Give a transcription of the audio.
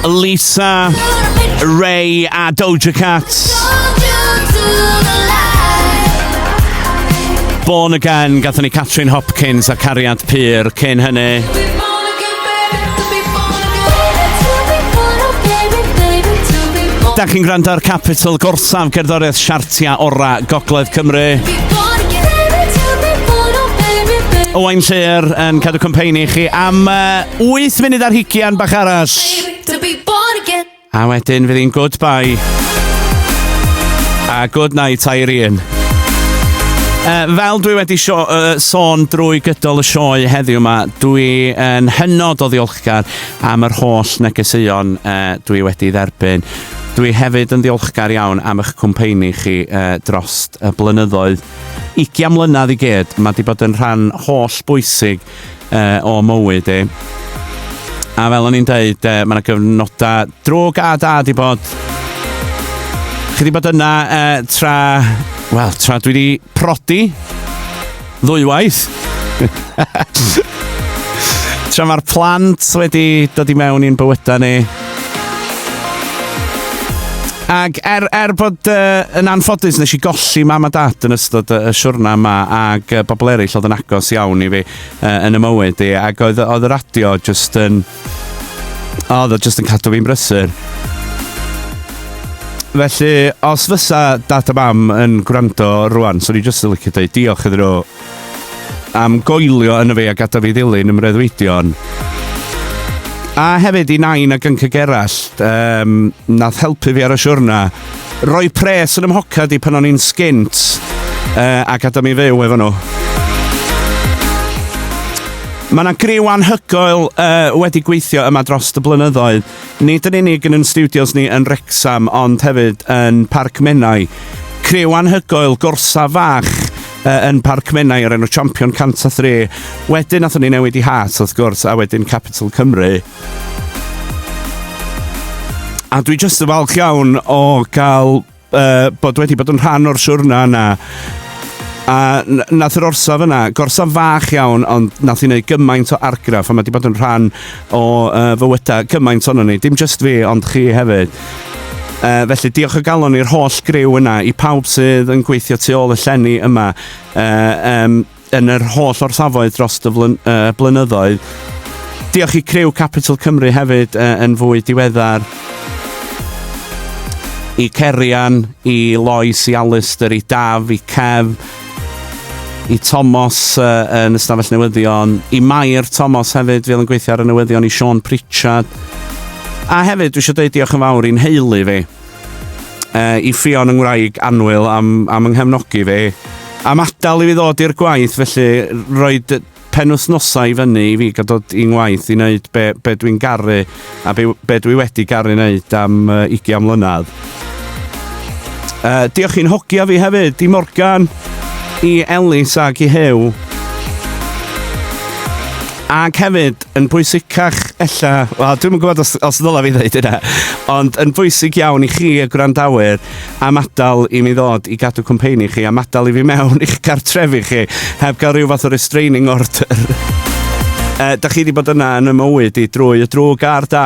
Lisa, Ray a Doja Cat. Born Again, gatho ni Catherine Hopkins a Cariad Pyr cyn hynny. Da chi'n gwrando ar Capital Gorsaf, gerddoriaeth siartia ora Gogledd Cymru. Owain Llyr yn cadw cwmpeini chi am uh, 8 funud ar hugian bach arall. A wedyn fydd hi'n goodbye. A good night, Irene. Uh, fel dwi wedi sio, uh, sôn drwy gydol y sioe heddiw yma, dwi yn uh, hynod o ddiolchgar am yr holl negeseuon uh, dwi wedi dderbyn. Dwi hefyd yn ddiolchgar iawn am eich cwmpeini chi uh, dros y blynyddoedd. Ugian mlynedd i gyd, mae wedi bod yn rhan holl bwysig uh, o mywyd i. A fel o'n i'n dweud, uh, mae yna gyfnodau drwg a da di bod. Chi di bod yna uh, tra, wel, tra dwi di prodi ddwywaith. tra mae'r plant wedi dod i mewn i'n bywydau ni. Ac er, er bod uh, yn anffodus nes i golli mam a dad yn ystod y siwrna yma ac uh, bobl eraill oedd yn agos iawn i fi uh, yn y mywyd i ac oedd, oedd y radio just yn... oedd o just yn cadw fi'n brysur. Felly, os fysa dad a mam yn gwrando rwan, so ni jyst yn licio dweud diolch iddyn nhw am goelio yn y fe a gadael fi ddilyn ym mreuddwydion. A hefyd i nain a gync y gerallt, um, nath helpu fi ar y siwrna. Roi pres yn ymhocad i pan o'n i'n sgint uh, a gadael mi fyw efo nhw. Mae yna griw anhygoel uh, wedi gweithio yma dros y blynyddoedd. Nid yn unig yn yn stiwdios ni yn Wrecsam ond hefyd yn Parc Menai. Criw anhygoel, gorsaf fach uh, yn Parc Menai o'r enw Champion 103. Wedyn nathon ni newid i Heart wrth gwrs a wedyn Capital Cymru. A dwi jyst yn falch iawn o gael uh, bod wedi bod yn rhan o'r siwrna yna. A nath yr orsaf yna, gorsaf fach iawn, ond nath i wneud gymaint o argraff, a mae wedi bod yn rhan o uh, fywyda gymaint o'n ni, dim just fi, ond chi hefyd. Uh, felly diolch o galon i'r holl griw yna, i pawb sydd yn gweithio tu ôl y llenni yma. Uh, um, yn yr holl orsafoedd dros y blynyddoedd. Diolch i criw Capital Cymru hefyd yn fwy diweddar. I Cerian, i Lois, i Alistair, i Daf, i Kev, i Tomos yn ystafell newyddion, i Mair Tomos hefyd, fel yn gweithio ar y newyddion, i Sean Pritchard. A hefyd, dwi eisiau dweud diolch yn fawr i'n heulu fi. Uh, I Ffion yng Ngwraig Anwyl am, am yng nghefnogi fe. Am adael i fi ddod i'r gwaith, felly roed penwythnosau i fyny i fi gael dod i'n ngwaith i wneud be, be dwi'n garu a be, be dwi wedi garu wneud am uh, 20 mlynedd. Uh, diolch i'n hogia fi hefyd, i Morgan, i Elis ac i Hew. Ac hefyd, Yn bwysicach ella, wel dwi'm yn gwybod os, os ddyla fi ddeud yna, ond yn bwysig iawn i chi y gwrandawyr am adael i mi ddod i gadw cwmpeini chi, am adael i fi mewn i'ch cartrefi chi, heb gael rhyw fath o restraining order. Uh, da chi wedi bod yna yn y mywyd i drwy y drwg a'r da.